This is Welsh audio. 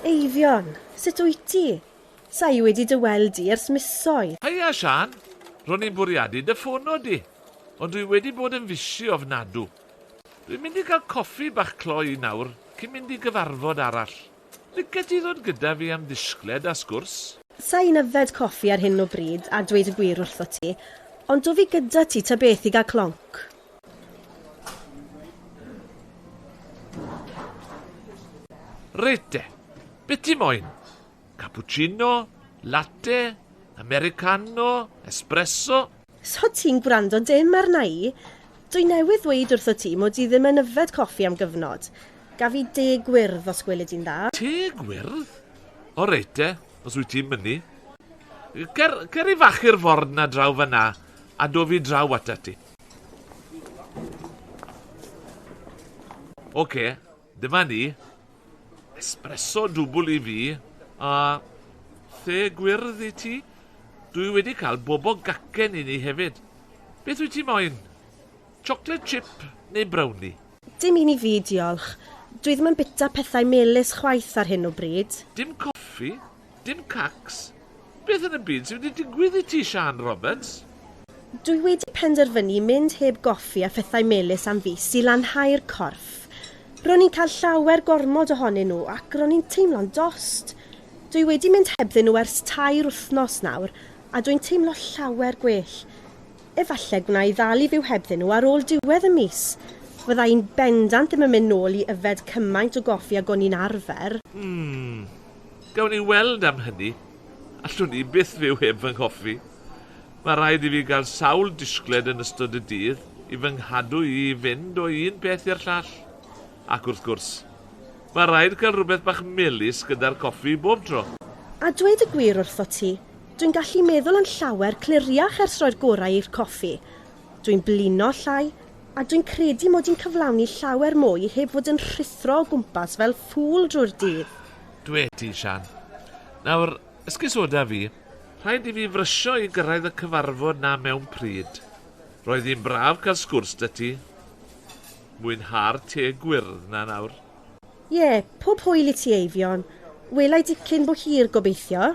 Eifion, sut wyt ti? Sa i wedi dy weld di ers misoedd. Heia, Siân! Ro'n i'n bwriadu dy ffono di, ond dwi wedi bod yn fisi ofnadw. Dwi'n mynd i gael coffi bach cloi nawr cyn mynd i gyfarfod arall. Lice ti ddod gyda fi am ddisgled a sgwrs? Sa i'n yfed coffi ar hyn o bryd, a dweud y gwir wrthot ti, ond do fi gyda ti ta beth i gael clonc. Reit de, beth ti moyn? Cappuccino? Latte? Americano? Espresso? So ti'n gwrando dim arna i? Dwi newydd ddweud wrtho ti mod i ddim yn yfed coffi am gyfnod. Gaf i de gwyrdd os gweli di'n dda. Te gwyrdd? O reit de, os wyt ti'n mynnu. Cer, cer i fachu'r forn na draw fanna a do fi draw atat ti. Oce, dyma ni. Espresso dwbl i fi, a the gwyrdd i ti. Dwi wedi cael bobo gacen i ni hefyd. Beth wyt ti moyn? Chocolate chip neu brownie? Dim un i fi, diolch. Dwi ddim yn bita pethau melys chwaith ar hyn o bryd. Dim coffi? Dim cacs? Beth yn y byd sydd wedi digwydd i ti Siân Roberts? Dwi wedi penderfynu mynd heb goffi a phethau melys am fis i lanhau'r corff. Ro'n i'n cael llawer gormod ohonyn nhw ac ro'n i'n teimlo'n dost. Dwi wedi mynd hebddyn nhw ers tair wythnos nawr a dwi'n teimlo llawer gwell. Efallai gwna i ddal i fyw hebddyn nhw ar ôl diwedd y mis. Fydda i'n bendant ddim yn mynd nôl i yfed cymaint o goffi ag o'n i'n arfer. Hmm. Gawn ni weld am hynny. Allwn i byth fyw heb fy nghoffi. Mae rhaid i fi gael sawl disgled yn ystod y dydd i fy nghadw i i fynd o un peth i'r llall. Ac wrth gwrs, mae rhaid cael rhywbeth bach melys gyda'r coffi bob tro. A dweud y gwir wrthot ti, dwi'n gallu meddwl yn llawer cliriach ers rhoi'r gorau i'r coffi, Dwi'n blino llai, a dwi'n credu mod i'n cyflawni llawer mwy heb fod yn rhuthro o gwmpas fel ffŵl drwy'r dydd. Dwe ti, Siân. Nawr, esgusoda fi, rhaid i fi frysio i gyrraedd y cyfarfod 'na mewn pryd. Roedd hi'n braf cael sgwrs 'da ti. Mwynha'r te gwyrdd 'na nawr. Ie, pob hwyl i ti, Eifion. Wela i dipyn bo hir, gobeithio.